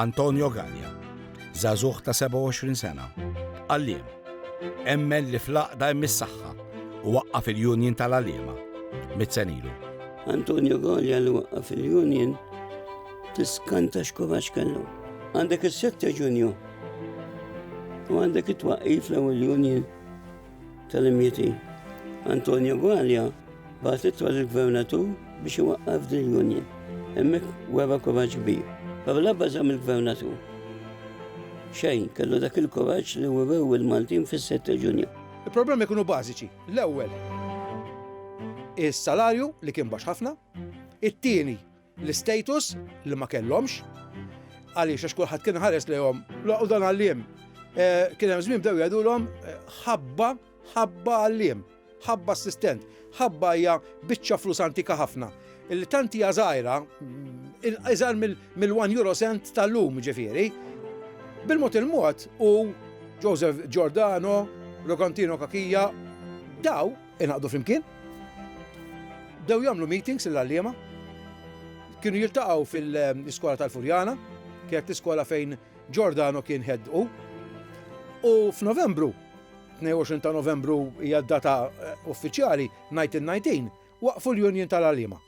Antonio Gagna, żagħżugħ ta' 27 sena, għalliem, emmen li fl-għaqda hemm is-saħħa u waqqaf il-Union tal-Għalliema mitt sen ilu. Antonio Gagna li waqqaf il-Union tiskanta x'kovax kellu. Għandek is-sette Ġunju u għandek it-twaqqif l-ewwel Union tal-imjiti. Antonio Guaglia bagħat ittra lill-Gvernatur biex iwaqqaf din l-union. Hemmhekk wera kuraġġ kbir. Però l-ebba żamm il-Gvernatur. Xejn, kellu dak il-kuraġġ li werew il-Maltin fis-sitt ta' Ġunju. Il-problemi kienu bażiċi. L-ewwel, is-salarju li kien baxx ħafna. It-tieni, l-istatus li ma kellhomx, għaliex għax kulħadd kien ħares lejhom u dan għalliem. Eh, kien hemm żmien bdew jgħidulhom eh, ħabba ħabba għalliem, ħabba assistent, ħabba hija biċċa flus antika ħafna. Illi tant hija żgħira, iżgħar mill-1 euro cent tal-lum ġifieri. Bil-mod il-mod u Joseph Giordano, Rokantino Kakija, daw Ingħaqdu flimkien, bdew jagħmlu meetings l-għalliema, kienu jiltaqgħu fil-iskola tal-Furjana, kienet l-iskola fejn Giordano kien head u. U f'Novembru, 22 ta' Novembru hija d-data eh, uffiċjali, 1919, waqfu l-Union tal-għalliema.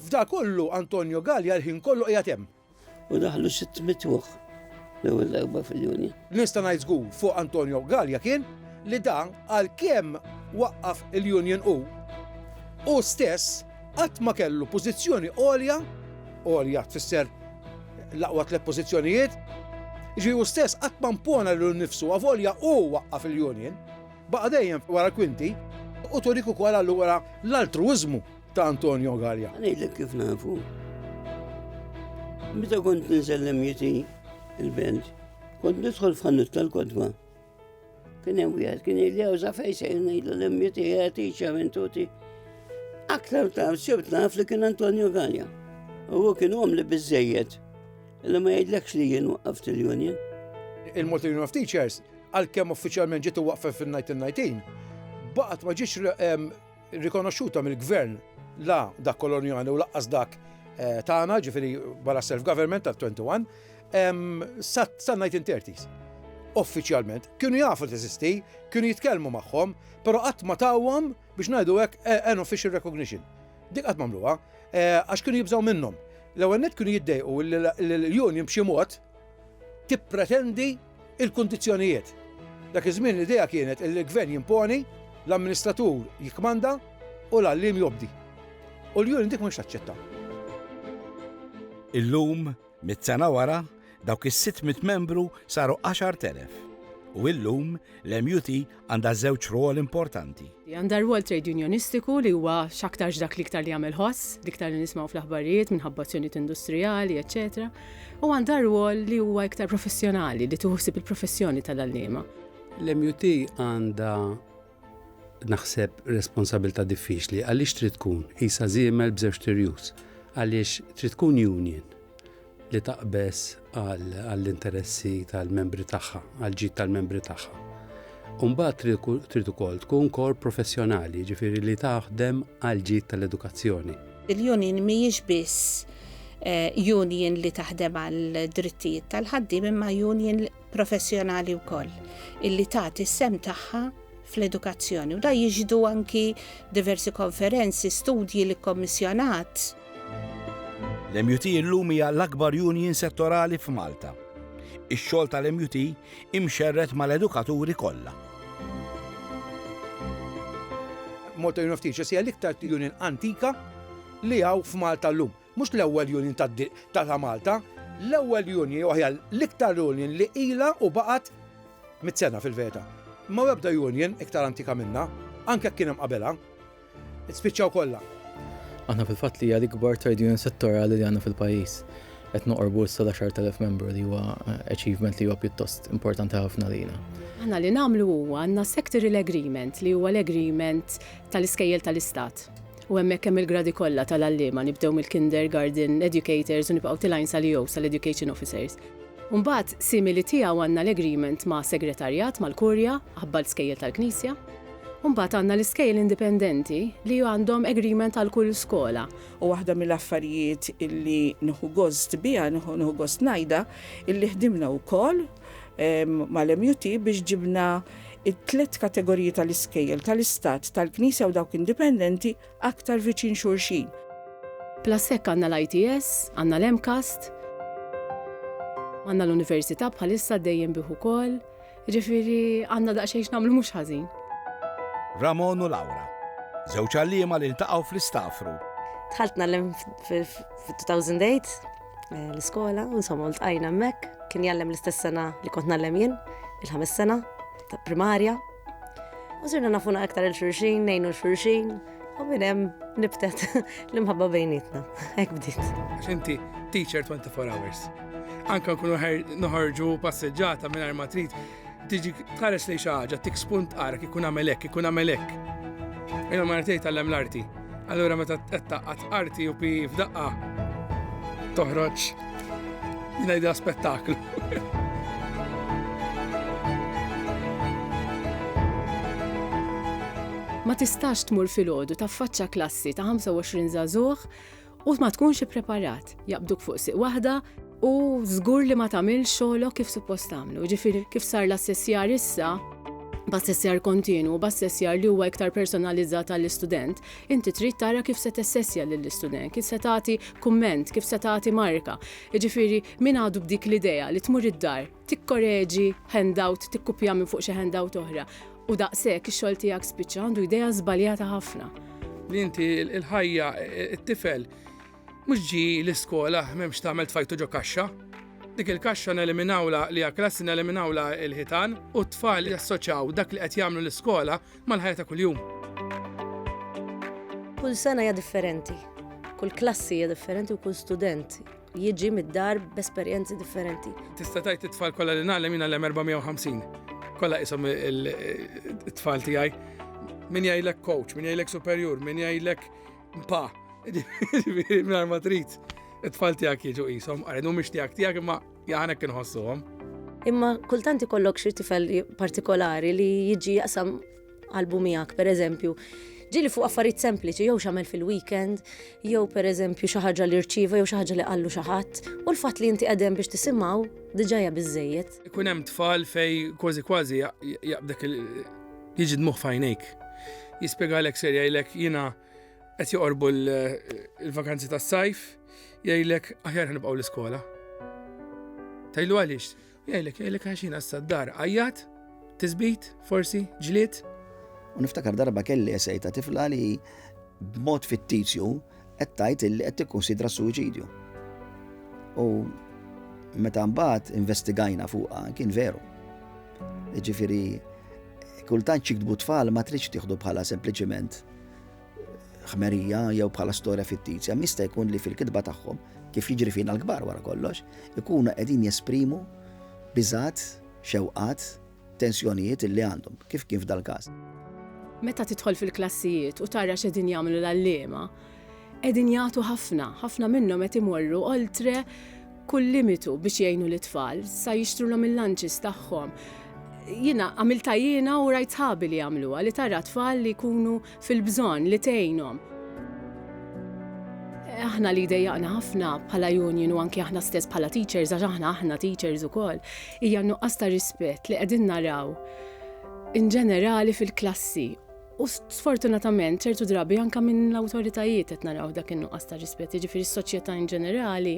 F'da kollu Antonio Gallia l-ħin kollu qiegħed hemm. U daħlu sitt mitwuħ l-ewwel darba fil-Union. Nista' ngħid żgur fuq Antonio Gallia kien li dan għalkemm waqqaf il-Union u u stess qatt ma kellu pożizzjoni għolja, għolja tfisser l-aqwa tliet pożizzjonijiet, ġi u stess qatt ma mpona lil nifsu għavolja u waqqaf il-Union, baqa' dejjem wara l-kwinti u turik ukoll allura l-altruiżmu ta' Antonio Gallia. Ngħidlek kif nafu. Meta kont ninsellem jiti il-belt, kont nidħol f'ħannut tal-kodba. Kien hemm wieħed kien li jawża fejn se ngħidlu l jiti jagħti ċaventuti. Aktar ta' sibt naf li kien Antonio Gallia. U kien għom li biżejjed. Illa ma jgħidlekx li jien waqaft il-Union. Il-Multi Union of Teachers għal-kem uffiċjalment ġitu waqfa fil-1919, baqat ma ġiex rikonoxxuta mill-gvern la dak kolonjali u laqqas dak eh, tagħna, ġifieri wara self-government tal-21, sa 1930s. Uffiċjalment kienu jafu li teżisti, kienu jitkellmu magħhom, però qatt ma tawhom biex ngħidu hekk eh, an official recognition. Dik qatt mamluha, eh, għax kienu jibżgħu minnhom. L-ewwel net kienu jiddejqu l-union b'xi mod tippretendi l-kundizzjonijiet. Dak iż-żmien l-idea kienet illi l-gvern jimponi, l-amministratur jikkmanda u l-għalliem jobdi. U l-union dik m'għandx taċċetta. Illum, mitt sena wara, dawk is-sitt mitt membru saru għaxart elef. U illum, l-MUT għandha żewġ rwol importanti. Għandha rwol trade unionistiku li huwa x'aktarx dak li iktar li jagħmel ħoss, li iktar li nismgħu fl-aħbarijiet minħabba azzjonijiet industrijali, eċetera. U għandha rwol li huwa iktar professjonali li tuħsib il-professjoni tal-għalliema. L-MUT għandha naħseb responsabilta diffiċli għaliex trid tkun isa żiemel b'żewġ tirjus għaliex trid tkun union li taqbeż għall-interessi tal-membri tagħha, għall-ġid tal-membri tagħha. Umbat trid ukoll tkun kor professjonali, ġifiri li taħdem għall-ġid tal-edukazzjoni. Il-union mhijiex biss eh, union li taħdem għal drittijiet tal-ħaddim imma union professjonali wkoll illi tagħti s-sem tagħha fl-edukazzjoni. U da jiġdu anki diversi konferenzi, studji li kommissjonat L-MUT illum hija l-akbar union settorali f'Malta. Ix-xogħol tal-MUT imxerred mal-edukaturi kollha. Malta Union of Teachers hija l-iktar union antika li hawn f'Malta llum. Mhux l-ewwel union ta' ta' Malta, l-ewwel union jew aħjar l-iktar union li ilha u baqgħet mitt sena fil-verità. M'hawn ebda union iktar antika minnha, anke jekk kien hemm qabelha. Spiċċaw kollha. Aħna fil-fatt li hija l-ikbar trade union settorali li għandna fil-pajjiż. Qed noqorbu issa l-10,000 membru li huwa eh, achievement li huwa pjuttost importanti ħafna lina. Aħna li nagħmlu huwa għandna sectorial agreement li huwa l-agreement tal-iskejjel tal-istat. U hemmhekk hemm il-gradi kollha tal-għalliema nibdew mill-kindergarten educators u nibqgħu tilajn sal-EO sal-education officers. Umbat, simili tiegħu għandna l-agreement ma' segretarjat mal-kurja, ħabbal skejjel tal-knisja. U mbagħad għandna l-iskejjel indipendenti li għandhom agreement għal kull skola. U waħda mill-affarijiet illi nieħu gost biha, nieħu gost ngħidha, illi ħdimna wkoll mal-MUT biex ġibna it-tliet kategoriji tal-iskejjel tal-istat, tal-knisja u dawk indipendenti aktar viċin xulxin. Plus hekk għandna l-ITS, għandna l-MCAST, għandna l-Università bħalissa dejjem bih ukoll, Ġifieri għandna daqsxejn x'nagħmlu mhux ħażin. Ramon u Laura, żewġ għalliema li ltaqgħu fl-Istafru. Dħalt nagħlem fil-2008 eh, l-iskola, insomma ltqajna hemmhekk, kien jgħallem l-istess sena li kont nagħlem jien, il-ħames sena ta' primarja. U sirna nafuna aktar il-xurxin, nejnu l-xurxin, U minn hemm nibtet l-imħabba bejnietna. Hekk bdiet. Għax inti teacher 24 hours. Anka nkunu noħorġu passeġġata minn ma trid tiġi tħares li xaħġa, tik spunt qarak, ikun għamelek, ikun għamelek. Ejna ma rtej tal-lem l-arti. Allura meta t-taqqa t-arti u pi f'daqqa toħroġ Jina jidha spettaklu. Ma tistax tmur filgħodu taffaċċa klassi ta' 25 żagħżugħ u ma tkunx ippreparat. Jaqbduk fuq siq waħda u żgur li ma tagħmel xogħolok kif suppost tagħmlu. Ġifieri kif sar l-assessjar issa, b'assessjar kontinu, b'assessjar li huwa iktar personalizzat għall-istudent, Inti trid tara kif se tessessja lill-istudent, kif se tagħti kumment, kif se tagħti marka. Jiġifieri min għadu b'dik l-idea li tmur id-dar, tikkoreġi handout, tikkupja minn fuq xi handout oħra, u daqshekk ix-xogħol tiegħek spiċċa, għandu idea żbaljata ħafna. Li inti l-ħajja, it-tifel mhux ġie l-iskola m'hemm x'tagħmel tfajtu ġo kaxxa. Dik il-kaxxa neliminawlha li għall-klassi neliminawlha l-ħitan u t-tfal jassoċjaw dak li qed jagħmlu l-iskola mal-ħajja ta' kuljum. Kull sena hija differenti, kull klassi hija differenti u kull student jiġi mid-dar b'esperjenzi differenti. Tista' tajt it-tfal kollha li nagħlem jien għallem 450. Kollha isom it-tfal tiegħi. Min jgħidlek coach, min jgħidlek superjur, min jgħidlek pa. Mingħajr ma trid it-tfal tiegħek jiġu qishom, għaridu mhix tiegħek tiegħek imma Jaħanek inħossuhom. Imma kultant ikollok xi tifel partikolari li jiġi jaqsam qalbu miegħek, pereżempju, ġili fuq affarijiet sempliċi jew x'għamel fil-weekend, jew pereżempju xi ħaġa li rċieva jew xi ħaġa li qallu xi ħadd, u l-fatt li inti qegħdem biex tisimgħu diġà hija biżejjed. Ikun hemm tfal fej kważi kważi jaqbdek jiġi dmuħ fajnejk. Jispjegalek serja jilek jiena Qed joqorbu l-vakanzi tas-sajf, jgħidlek aħjar ħanibqgħu l-iskola. Tajlu għaliex, jgħidlek jgħidlek għax jiena s-saddar għajjat, tisbit, forsi, ġlied. U niftakar darba kelli esej ta' tifla li b'mod fittizju qed tgħid li qed tikkunsidra s-suwiċidju. U meta mbagħad investigajna fuqha kien veru. Ġifieri kultant xiktbu tfal ma tridx tieħdu bħala sempliċiment ħmerija jew bħala storja fittizja, mista jkun li fil-kitba tagħhom, kif jiġri fina l-kbar wara kollox, ikunu qegħdin jesprimu biżat, xewqat, tensjonijiet li għandhom, kif kien f'dal-każ. Meta tidħol fil-klassijiet u tara x'edin jagħmlu l-għalliema, qegħdin jagħtu ħafna, ħafna minnhom qed imorru oltre kull limitu biex jgħinu lit-tfal, sa jixtrulhom il-lunches tagħhom. Jiena għamilta jiena u rajt sħabi li jagħmluha li tara tfal li jkunu fil-bżonn li tgħinhom. Aħna li dejjaqna ħafna bħala union u anke aħna stess bħala teachers għax aħna aħna teachers ukoll hija nuqqas ta' rispett li qegħdin naraw in ġenerali fil-klassi U sfortunatament ċertu drabi anke minn l-awtoritajiet qed naraw dak in-nuqqas ta' rispett, jiġifieri s-soċjetà in ġenerali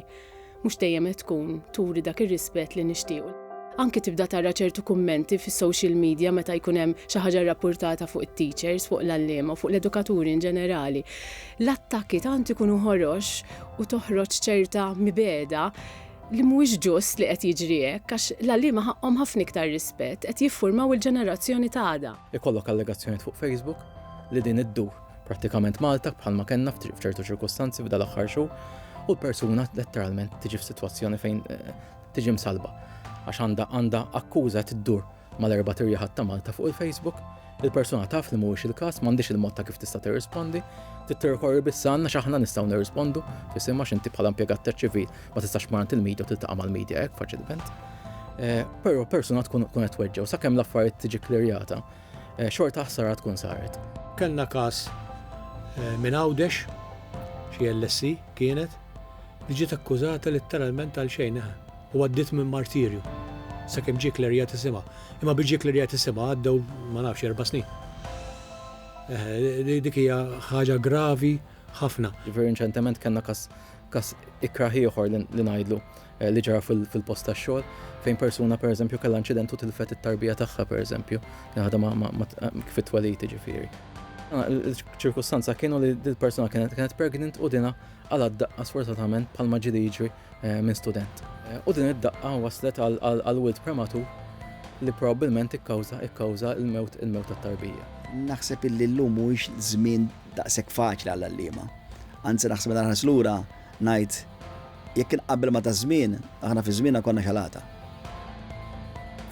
mhux dejjem qed tkun turi dak ir-rispett li nixtiequ. Anke tibda tara ċertu kummenti fis-social media meta jkun hemm xi ħaġa rrappurtata fuq it-teachers, fuq l-għalliema u fuq l-edukaturi in ġenerali. L-attakki tant ikunu ħorox u toħroġ ċerta mibegħda li mhuwiex ġust li qed jiġri hekk għax l-għalliema ħaqqhom ħafna iktar rispett, qed jiffurmaw il-ġenerazzjoni t'għada. Ikollok allegazzjonijiet fuq Facebook li din iddur prattikament Malta bħalma kellna f'ċertu ċirkustanzi f'dal aħħar xhur u l-persuna letteralment tiġi f'sitwazzjoni fejn eh, tiġi msalba għax għandha għandha akkuża tiddur mal-erba' tirjaħat ta' Malta fuq il-Facebook il-persuna taf li mhuwiex il-każ, m'għandix il-mod ta' kif tista' tirrispondi, tittirkorri biss għandna x'aħna nistgħu nirrispondu, fisimha x'inti bħala impjegat ċivil ma tistax marant il-medja u tiltaqa' mal-medja hekk faċilment. Eh, però persuna tkun tkun qed tweġġew sakemm l-affarijiet tiġi klirjata. Eh, xorta ħsara tkun saret. Kellna każ eh, minn Għawdex, xi LSC kienet, li ġiet akkużata letteralment għal xejn u għaddiet minn martirju. Sakemm ġie klerjat isimha. Imma biex ġie klerjat isimha għaddew ma nafx erba' snin. Dik hija ħaġa gravi ħafna. Ġifieri inċentement kellna każ każ ikraħ ieħor li ngħidlu Eh, li ġara fil-post ta' xogħol fejn persuna per eżempju kellha inċident u tilfet it-tarbija tagħha per eżempju, naħda kif it-twelid ġifieri. Ah, ċirkustanza kienu li dil-persuna kienet kienet pregnant u dina għal daqqa sfortunatament bħal maġili jiġri eh, minn student. Eh, u din id-daqqa waslet għal wild prematu li probabbilment ikkawża ikkawża il-mewt il-mewt tat-tarbija. Naħseb illi llum mhuwiex żmien daqshekk faċli għall-allima. Anzi naħseb l-arħas lura Ngħid, jekk inqabbel ma' taż-żmien, aħna fi żmienna konna xalata.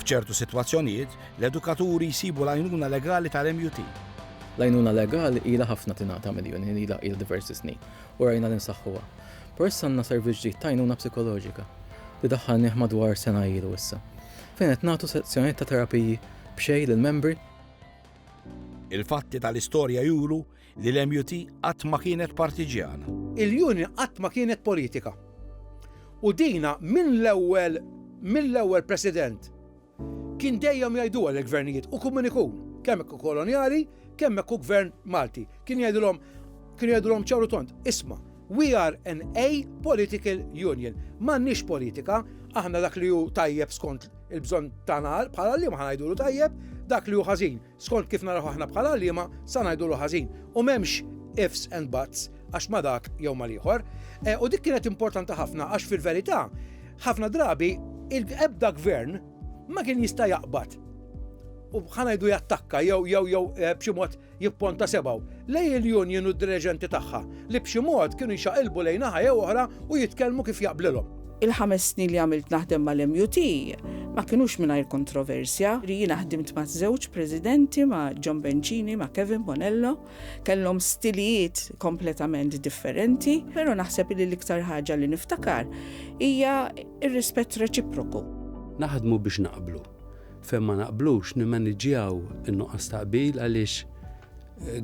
F'ċertu sitwazzjonijiet, l-edukaturi jsibu l-għajnuna legali tal-MUT. L-għajnuna legali ilha ħafna tingħata mill-Union, ilha ilha diversi snin, u rajna li nsaħħuha. Però issa għandna servizz ġdid ta' għajnuna psikoloġika, li daħħalnieh madwar sena ilu issa, fejn qed nagħtu sezzjonijiet ta' terapiji b'xejn lill-membri. Il-fatti tal-istorja juru Li l-MUT qatt ma kienet partiġjana. Il-Union qatt ma kienet politika. U dina minn l-ewwel minn l-ewwel President kien dejjem jgħiduha lill-Gvernijiet u kemm min ikun, kemm jekk hu kolonjali, kemm jekk hu Gvern Malti. Kien jgħidilhom kien jgħidilhom ċar u tond, isma', we are an apolitical union. M'għandniex politika, aħna dak li hu tajjeb skont il-bżonn tagħna bħala liema ħa ngħidulu tajjeb, dak li hu ħażin Skont kif naraw aħna bħala għalliema, sa ngħidulu ħażin, u m'hemmx ifs and buts għax ma' dak jew mal-ieħor. U dik kienet importanti ħafna għax fil-verità ħafna drabi l-ebda gvern ma kien jista' jaqbad u ħanajdu jattakka jew jew jew eh, b'xi mod jipponta sebgħu lej il-union u d-direġenti tagħha. li b'xi mod kienu jxaqilbu lejn naħa jew oħra u jitkellmu kif jaqblilhom. Il-ħames snin li għamilt naħdem mal-MUT ma kinux mingħajr kontroversja. Jiena ħdimt ma' żewġ Presidenti, ma' John Bencini, ma' Kevin Bonello. Kellhom stilijiet kompletament differenti, però naħseb li l-iktar ħaġa li niftakar hija r-rispett reċiproku. Naħdmu biex naqblu. Fejn ma naqblux nimmaniġġjaw in-nuqqas ta' qbil għaliex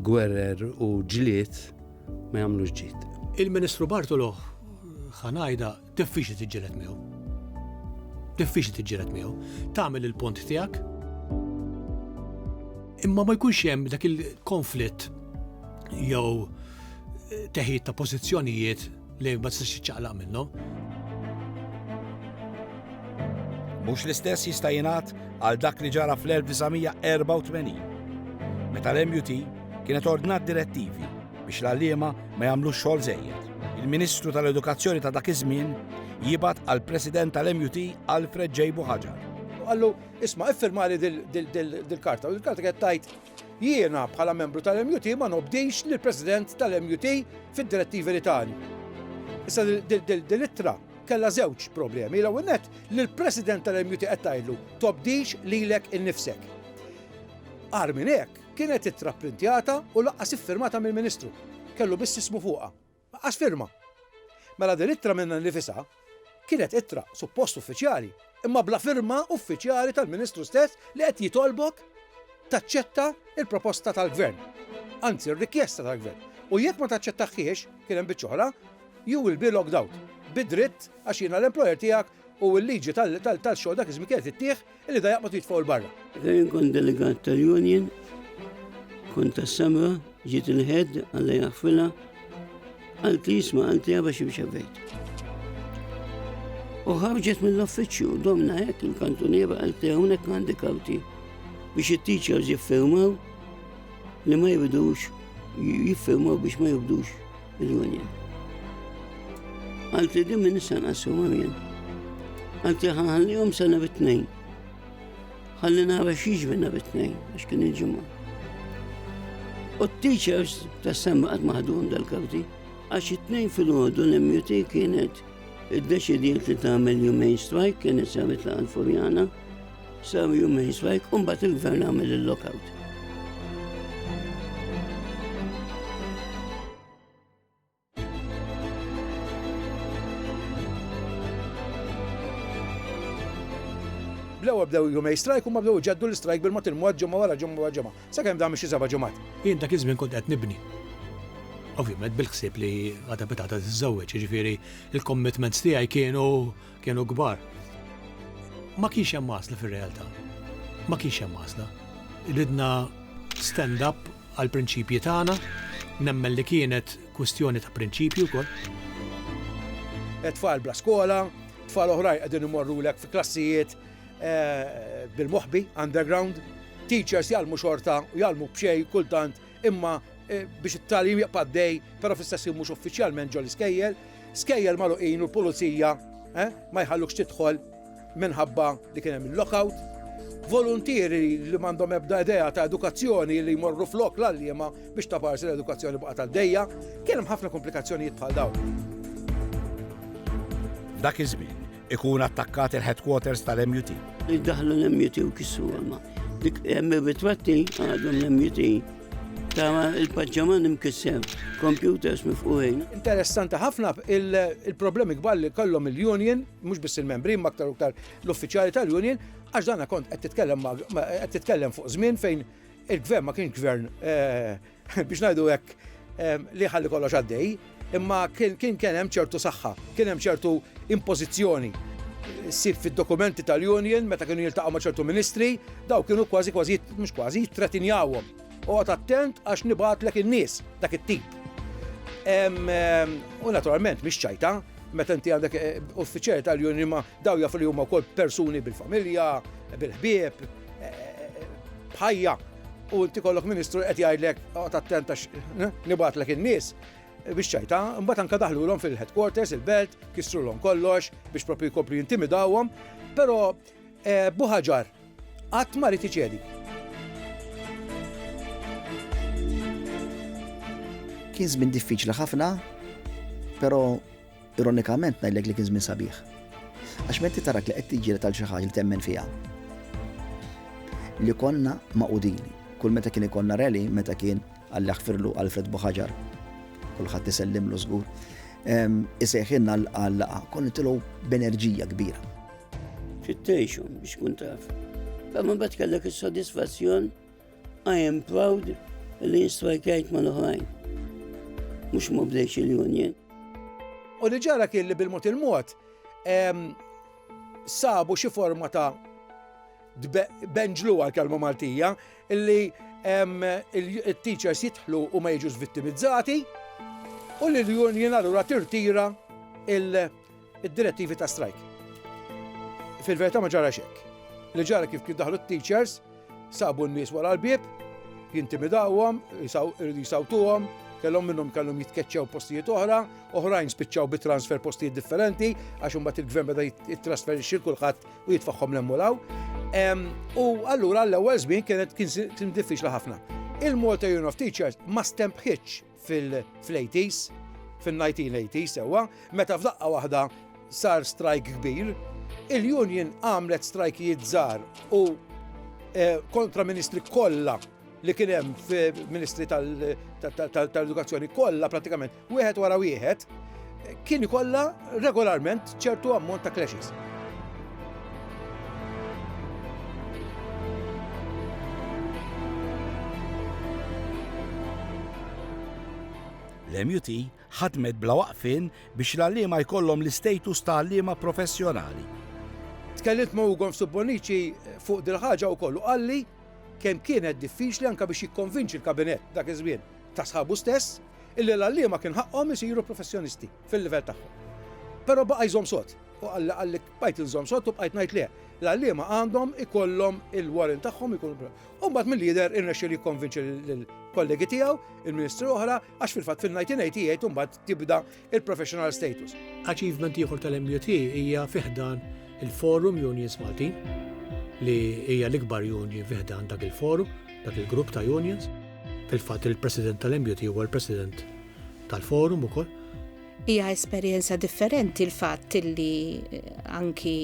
Gwerer u ġlied ma jagħmlux ġid. Il-Ministru Bartolo ħa ngħidha diffiċli tiġġieled miegħu. Diffiċli tiġġieled miegħu. Tagħmel il-punt tiegħek. Imma ma jkunx hemm dak il-konflitt jew teħid ta' pożizzjonijiet li ma tistax tiċċaqlaq minnhom. Mhux l-istess jista' jingħad għal dak li ġara fl-1984 meta l-MUT kienet ordnat direttivi biex l-għalliema ma jagħmlux xogħol żejjed. Il-Ministru tal-Edukazzjoni ta' dak iż-żmien jibgħat għal President tal-MUT Alfred J. Buħaġar. Għallu, isma' iffirmali dil-karta, u dil-karta kienet tajt Jiena, bħala membru tal-MUT, ma nobdix lill-President tal-MUT fid-direttivi li tani. Issa dil-ittra kellha żewġ problemi. L-ewwel nett li l-President tal-MUT qed tgħidlu tobdix lilek innifsek. Qar minn hekk kienet ittra printjata u laqqas iffirmata mill-Ministru. Kellu biss ismu fuqha. Laqqas firma. Mela din ittra minnha nnifisha kienet ittra suppost uffiċjali, imma bla firma uffiċjali tal-Ministru stess li qed jitolbok taċċetta l-proposta tal-Gvern, anzi r-rikjesta tal-Gvern, u jekk ma taċċettaħhiex, kien hemm biċċa oħra, you will be logged out, bi dritt għax jiena l-employer tiegħek u l-liġi tal-xogħol dak iż-żmien kienet ittih Illi da jaqbad jitfgħu l-barra. Fejn kont delegat tal-Union, kont tas-Samra, ġiet il-ħed, għalla jaħfilha, għalti jisma għalti għaba ximxa bejt. U ħarġet mill-offiċju, domna hekk il-kantuniera għalti hawnhekk għandi karti biex it-teachers jiffirmaw li ma jibdux jiffirmaw biex ma jibdux Il-Union. Għalti din minn issa nqassu għamjen. Għalti ħanħallihom sena bit-tnejn. Ħalli nara xiex minna bit-tnejn, għax kien il-ġimgħa. U t-teachers tas semma qatt maħdum dal-kawti, għax it-tnejn fil-ħodu l-MUT kienet id-deċidiet li tagħmel jumejn strajk kienet sabit la' furjana Sew jumejn swajk u mbagħad il-gvern għamel il-lockout. bdew bdew jumej strajk u ma bdew ġaddu l-strajk bil-mot il-mod ġemma wara ġemma wara ġemma. Sa kemm dam xi seba' ġemat. Jien dak iż-żmien kont qed nibni. Ovvjament bil-ħsieb li għadha bitata tiżżewweġ, jiġifieri il-commitments tiegħi kienu Kienu kbar. Ma kienx hemm għażla fir-realtà. Ma kienx hemm għażla. Ridna stand up għal prinċipji tagħna, nemmen li kienet kwistjoni ta' prinċipji wkoll. Tfal bla skola, tfal oħrajn qegħdin imorrulek fi klassijiet eh, bil-moħbi, underground, teachers jgħallmu xorta u jgħallmu b'xej kultant imma biex it-tagħlim jibqa' għaddej, però fl-istess ħin mhux uffiċjalment ġol-iskejjel, skejjel magħluqin u l-pulizija ma jħallukx tidħol minħabba li kien hemm il-lockout. Voluntieri li m'għandhom ebda idea ta' edukazzjoni li jmorru flok l-għalliema biex ta' parsi l-edukazzjoni baqgħet għaddejja, kien hemm ħafna komplikazzjonijiet bħal dawn. Dak iż-żmien, Ikun attakkat il-headquarters tal-MUT. Daħlu l-MUT u kissu għamma. Dik hemm ritratti għadhom l-MUT ta' il-paġġaman imkissem, computers mifquħin. Interessanti ħafna il-problemi kbar li kollhom il-union, mhux biss il-membri, ma aktar uktar l-uffiċjali tal-union, għax dana kont qed titkellem fuq żmien fejn il-gvern ma kienx gvern eh, biex ngħidu hekk, li ħalli kollox għaddej, imma kien kien hemm ċertu saħħa, kien hemm ċertu impożizzjoni. Sib fid-dokumenti tal-Union meta kienu jiltaqgħu ma' ċertu ministri, daw kienu kważi kważi mhux kważi jittretinjawhom. Oqgħod attent għax nibgħatlek in-nies dak it-tip. U naturalment mhix ċajta, meta inti għandek eh, uffiċjali tal-Union ma daw jafu li huma wkoll persuni bil-familja, bil-ħbieb, eh, eh, bħajja. u inti kollok ministru qed jgħidlek oqgħod attent għax nibgħatlek in-nies biex ċajta, mbagħad anke daħlulhom fil-headquarters, il-belt, kisrulhom kollox biex propju jkomplu jintimidawhom, però eh, buħaġar qatt ma rid iċedi. Kien żmien diffiċli ħafna, però Ironikament ngħidlek li kien żmien sabiħ. Għax menti tarak li qed tiġġieled għal xi ħaġa li temmen fiha. Li konna maqudin. Kull meta kien ikonna rally, meta kien għal jaħfirlu Alfred Buħaġar. Kulħadd isellimlu żgur. Isejħinna l-qaqa, kon nitilgħu b'enerġija kbira. Xittejxu biex kun taf. Famma bat kellek is-sodisfazzjon I am proud li jistrajkajt ma l-oħrajn. Mux ma bdejx il-union. U li ġara kien li bil-mod il-mod sabu xi forma ta' benġlu għal-kelma Maltija li il-teachers jitħlu u ma jiġux vittimizzati u li l-union allura tirtira il- Id-direttivi ta' strajk. Fil-verità ma ġara xekk. Li ġara kif kif daħlu t-teachers, sabu n-nies wara l-bieb, jintimidawhom, irridu jisawtuhom, kellhom minnhom kellhom jitkeċċew postijiet oħra, oħrajn spiċċaw bi transfer postijiet differenti għax imbagħad il-gvern beda jittrasferixxi kulħadd u jitfaħħom l-emmulaw. U allura l-ewwel żmien kienet kien diffiċli ħafna. Il-Malta Union of Teachers ma stempħitx fil-80s, fil-1980s sewwa, meta f'daqqa waħda sar strajk kbir, il-union għamlet strajkijiet żgħar u eh, kontra ministri kollha li kien hemm fil-Ministri tal-Edukazzjoni kollha pratikament wieħed wara wieħed kien ikollha regolarment ċertu ammont ta' clashes. L-MUT ħadmet bla waqfin biex l-għallima jkollhom l-istatus ta' għallima professjonali. Tkellimt ma' Ugon Subbonici fuq dil-ħaġa u kollu qalli kemm kienet diffiċli anka biex jikkonvinċi l-kabinet dak iż-żmien ta' sħabu stess illi l-għalliema kien ħaqqhom isiru professjonisti fil-livell tagħhom. Però baqa' jżomm sod. U qalli qalli bqajt inżomm sod u bqajt ngħid le. L-għalliema għandhom ikollhom il-warrant tagħhom ikunu. U mbagħad mill-lider irnexxi li jikkonvinċi lill-kollegi tiegħu, il-ministri oħra, għax fil-fatt fil-1988 imbagħad tibda il-professional status. Achievement ieħor tal-MUT hija fiħdan il-Forum Unions Maltin li hija l-ikbar union fiħdan dak il-forum, dak il-grupp ta' unions. Fil-fatt il-President tal-MUT huwa l-President tal-forum ukoll. Hija esperjenza differenti l-fatt li eh, anki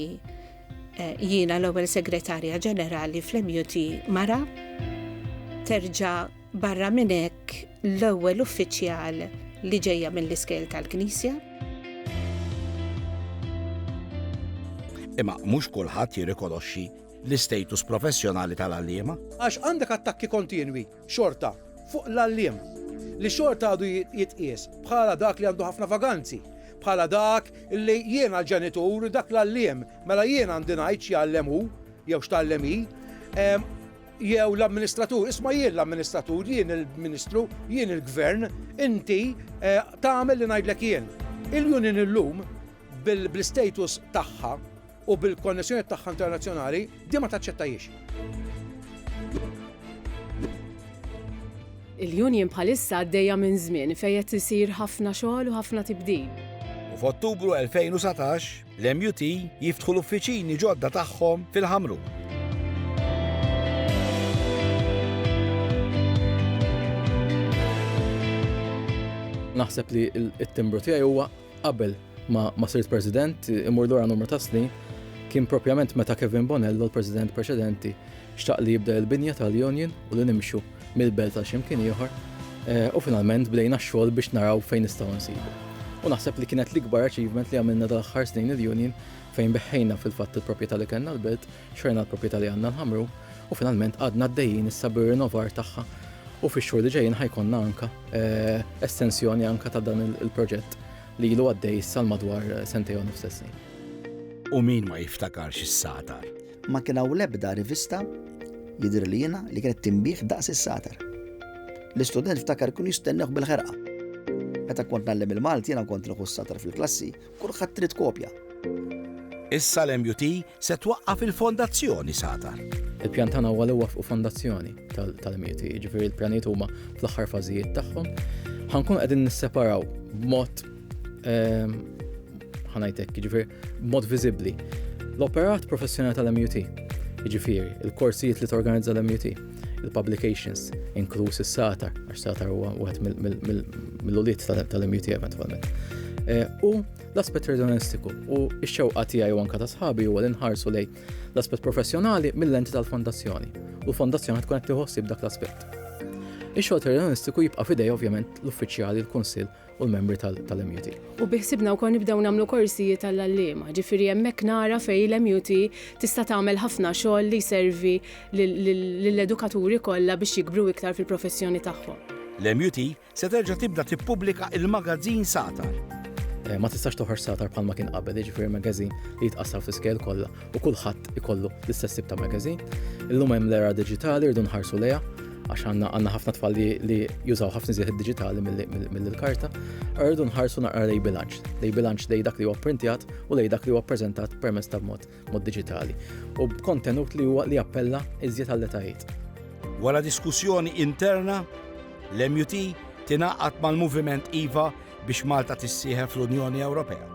eh, jiena l-ewwel segretarja ġenerali fl-MUT mara terġa' Barra minn hekk, l-ewwel uffiċjal li ġejja mill-iskejl tal-Knisja. Imma mhux kulħadd jirrikonoxxi l-istatus professjonali tal-għalliema. Għax għandek attakki kontinwi xorta fuq l-għalliem li xorta għadu jitqies bħala dak li għandu ħafna vaganzi, bħala dak li jiena l-ġenitur dak l-għalliem, mela jiena għandi ngħid x'jgħallem hu jew x'tgħallem hi. Jew l-amministratur, isma' jien l-amministratur, jien il-Ministru, jien il-Gvern, inti tagħmel li ngħidlek jien. Il-union illum bl-istatus tagħha u bil-konnessjonijiet tagħha internazzjonali din ma taċċettahiex. Il-union bħalissa għaddejja minn żmien fejn qed isir ħafna xogħol u ħafna tibdil. U f'Ottubru 2019, L-MUT jiftħu l-uffiċini ġodda tagħhom fil-Ħamrun. Naħseb li t-timbru tiegħi huwa qabel ma sirt President imur dwar numru ta' snin kien propjament meta Kevin Bonello, l-President preċedenti, xtaq li jibda l-binja tal-Union u li nimxu mill-belt għal xi mkien ieħor u finalment bdejna x-xogħol biex naraw fejn nistgħu nsibu. U naħseb li kienet l-ikbar achievement li għamilna dal-aħħar snin il-union fejn beħħejna fil-fatt il-proprjetà li kellna l-belt, xorna l-proprjetà li għandna l-ħamru u finalment għadna għaddejjin issa bir-rinnovar tagħha u fix-xhur li ġejjin ħajkonna anka eh, estensjoni anka ta' dan il-proġett li ilu għaddej sal madwar eh, sentej u nofsessin. U min ma jiftakarx is-satar? Ma kien hawn l-ebda rivista jidher li jiena li kienet tinbih daqs is-satar. L-istudent ftakar kienu jistennew bil-ħerqa. Meta kont nallem il-Malti jiena kont nieħu s-satar fil-klassi, kulħadd trid kopja. Issa l-MUT se twaqqaf il-Fondazzjoni Satar. Il-pjan tagħna huwa li waffqu fondazzjoni tal-MUT, jiġifieri l-pjanijiet huma fl-aħħar fażijiet tagħhom. Ħankun qegħdin nisseparaw b'mod Ehm, ħanajtek, ġifir, mod viżibbli. L-operat professjonali tal-MUT, ġifir, il-korsijiet li torganizza l-MUT, il-publications, inkluż is-satar, għax satar huwa wieħed mill-uliet tal-MUT eventwalment. Eh, u l-aspett redonistiku u x-xewqa tiegħi u anka ta' sħabi huwa li nħarsu lej l-aspett professjonali mill-enti tal-fondazzjoni u l-fondazzjoni tkun qed tiħossib dak l-aspett. Ix-xogħol terroristiku jibqa' fidej ovvjament l-uffiċjali l-Kunsill u l-membri tal-MUT. U biħsibna wkoll nibdew nagħmlu korsijiet għall-għalliema, ġifieri hemmhekk nara fejn l-MUT tista' tagħmel ħafna xogħol li jservi lill-edukaturi kollha biex jikbru iktar fil-professjoni tagħhom. L-MUT se terġa' tibda tippubblika l-magazzin Satar. Ma tistax toħroġ Satar bħalma kien qabel, jiġifieri magazzin li jitqassam fl-iskejjel kollha u kulħadd ikollu l-istess tip ta' magazine. Illum hemm l-era diġitali rridu nħarsu lejha għax għandna għandna ħafna tfal li jużaw ħafna żieħ diġitali mill-karta, rridu nħarsu naqra lej bilanċ, lej bilanċ lej dak li huwa printjat u lej dak li huwa preżentat permezz ta' mod mod diġitali u b'kontenut li huwa li appella iżjed għall-etajiet. Wara diskussjoni interna, l-MUT tingħaqad mal-Moviment IVA biex Malta tissieħeb fl-Unjoni Ewropea.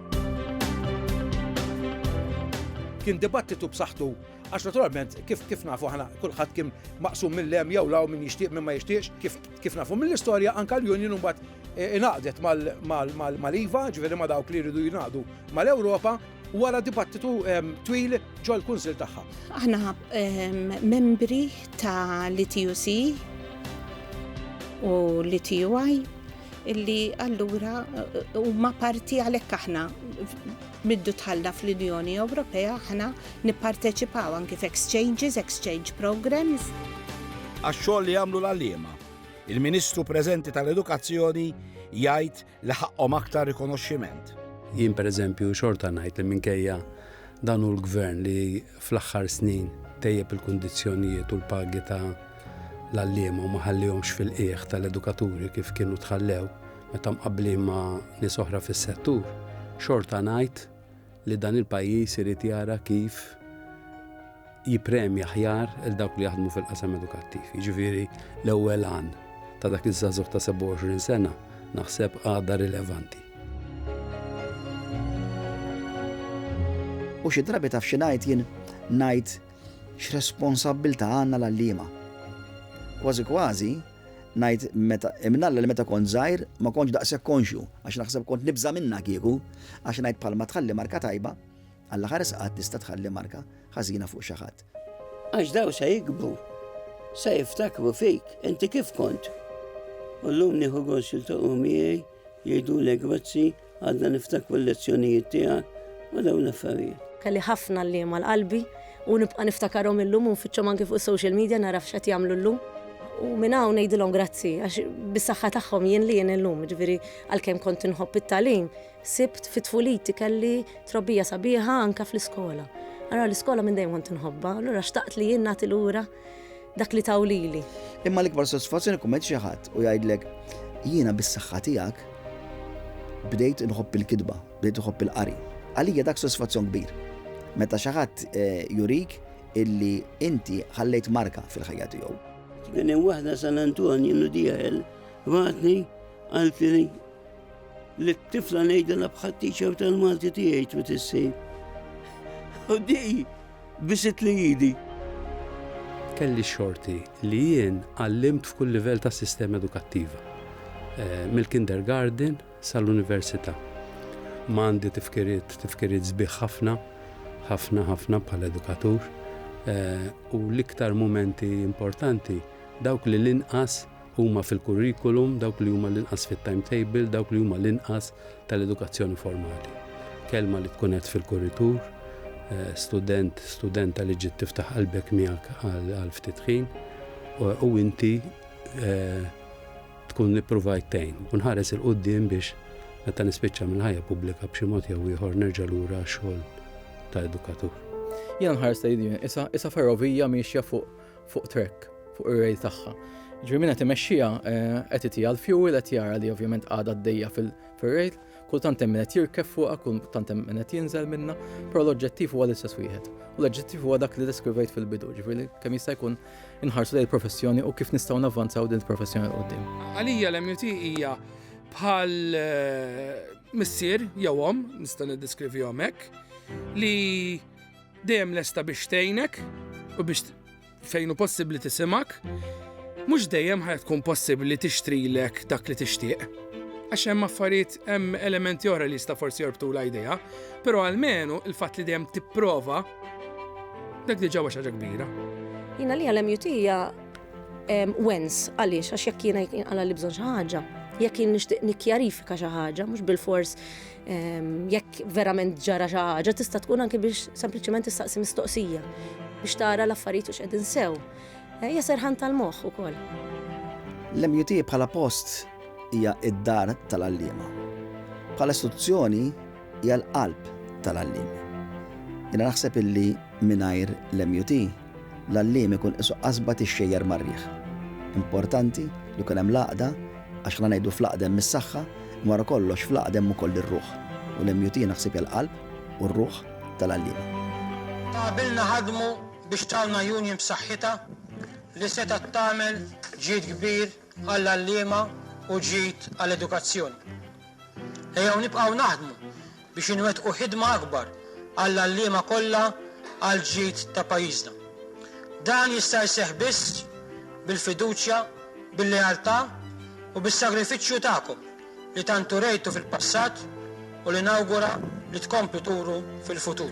Kien dibattitu b'saħħtu Għax naturalment, kif kif nafu ħana kulħadd kien maqsum mill-lem jew law min jixtieq minn ma jixtieqx, kif kif nafu mill-istorja anka l-Union mbagħad e, inaqdet mal-IVA, ġifieri ma dawk li jridu jingħaqdu mal-Ewropa, wara dibattitu twil ġol kunsil tagħha. Aħna membri ta' l-TUC u l-TUI illi allura huma parti għalhekk aħna middu tħalla fl-Unjoni Ewropea aħna nipparteċipaw anki f'exchanges, exchange programs. Għax-xogħol li jagħmlu l-għalliema, il-Ministru preżenti tal-Edukazzjoni jgħid li ħaqqhom aktar rikonoxximent. Jien pereżempju xorta ngħid li minkejja dan hu l-gvern li fl-aħħar snin tejjeb il-kundizzjonijiet u l-pagi ta' l-għalliema u ma ħallihomx fil-qiegħ ta' l-edukaturi kif kienu tħallew meta mqabblin ma' nies oħra fis-settur, xorta ngħid li dan il-pajjiż irid jara kif jippremja aħjar lil dawk li jaħdmu fil-qasam edukattiv. Jiġifieri l-ewwel għan ta' dak iż-żagħżugħ ta' 27 sena naħseb għadha rilevanti. U xi drabi taf xi ngħid jien ngħid x'responsabbiltà għandna l-għalliema. Kważi kważi ngħid meta imnalla li meta kont żgħir ma kontx daqshekk konxju għax naħseb kont nibża' minnha kieku għax ngħid bħalma tħalli marka tajba Alla ħares qatt tista' tħalli marka ħażina fuq xi ħadd. Għax daw se jikbru, se jiftakru fik, inti kif kont. U llum nieħu gost jiltaqgħu miegħi, jgħidulek grazzi, għadna niftakru l-lezzjonijiet tiegħek u dawn l-affarijiet. Kelli ħafna għalliema l-qalbi u nibqa' niftakarhom illum u nfittxhom anki fuq is-social media nara f'x'qed jagħmlu llum. U minn hawn ngħidilhom grazzi għax bis-saħħa tagħhom jien li jien illum, jiġifieri għalkemm kont inħobb it-tagħlim, Sibt fi tfuliti kelli trobbija sabiħa anke fl-iskola. Ara l-iskola minn dejjem kont inħobba, allura xtaqt li jien nagħti lura dak li taw lili. Imma l-ikbar sodisfazzjoni jkun meta xi ħadd u jgħidlek jiena bis-saħħa tiegħek bdejt inħobb il-kitba, bdejt inħobb il-qari. Għalija dak sodisfazzjon kbir. Meta xi ħadd eh, jurik illi inti ħallejt marka fil-ħajja tiegħu. Kien hemm waħda San Antonju Nudijael, vatni għal Li t-tifla ngħidilha bħat teacher tal-Malti tiegħi twit issi. U di bisit li jidi. Kelli xorti li jien għallimt f'kull livell ta' sistema edukattiva. Eh, mill-kindergarten sal-università. Ma għandi tifkiriet, tifkiriet zbiħ ħafna, ħafna ħafna bħal edukatur eh, u l-iktar momenti importanti dawk li l-inqas huma fil-kurrikulum, dawk li huma l-inqas fit-timetable, dawk li huma l-inqas tal-edukazzjoni formali. Kelma li tkun qed fil-kurritur, eh, student, studenta li ġiet tiftaħ qalbek miegħek għal ftit ħin, u inti eh, tkun nippruvajt tejn. U nħares il-qoddim biex meta nispiċċa mill-ħajja pubblika b'xi mod jew ieħor nerġa' lura xogħol ta' edukatur. Jien nħares tgħidin, issa ferrovija miexja fuq fuq trek, fuq ir-rejl tagħha. Ġifieri min qed imexxiha eh, qed itija l-fuel qed jara li ovvjament għadha d-dejja fil-rejl, kultant hemm min qed jirkef fuqha, kultant hemm min qed jinżel minna, però l-oġġettiv huwa l-istess wieħed. U l-oġġettiv huwa dak li deskrivejt fil-bidu, ġifieri kemm jista' jkun inħarsu lejn il-professjoni u kif nistgħu navvanzaw din il-professjoni l-qudiem. Għalija l-MUT hija bħal eh, missier jew om, nista' niddeskrivihom hekk, li Dejjem lesta biex tgħinek u biex fejn hu possibbli tisimgħek. Mhux dejjem ħa tkun possibbli tixtrilek dak li tixtieq. Għax hemm affarijiet hemm elementi oħra li jista' forsi jorbtu l-idea, però għalmenu il-fatt li dejjem tipprova dak diġà huwa xi ħaġa kbira. Jina li għalem jutija wens għaliex għax jekk jiena jkun għala li bżon xi ħaġa, jekk jien nixtieq nikkjarifika xi ħaġa, mhux bil-fors Jekk verament ġara xi ħaġa tista' tkun anke biex sempliċement tistaqsi mistoqsija biex tara l-affarijiet u x'qegħdin sew. Eh, hija serħan tal-moħħ ukoll. L-MUT bħala post hija id-dar tal-għalliema. Bħala istituzzjoni hija l-qalb tal-għallim. Jiena naħseb illi mingħajr l-MUT L-għalliem ikun qisu qasba tixxejjer mar-riħ. Importanti li jkun hemm l-għaqda għax la ngħidu fl-għaqda hemm is-saħħa imma wara kollox fl-għaqda hemm ukoll ir-ruħ u l-MUT naħseb hija l-qalb u r-ruħ tal-għalliema. Ta' qabilna ħadmu biex tawna union b'saħħitha li setgħet tagħmel ġid kbir għall-għalliema u ġid għall-edukazzjoni. Ejjew nibqgħu naħdmu biex inwettqu ħidma akbar għall-għalliema kollha għall-ġid ta' pajjiżna. Dan jista' jseħħ biss bil-fiduċja, bil-lealtà u bis-sagrifiċċju tagħkom li tant urejtu fil-passat u li nawgura li tkomplu turu fil-futur.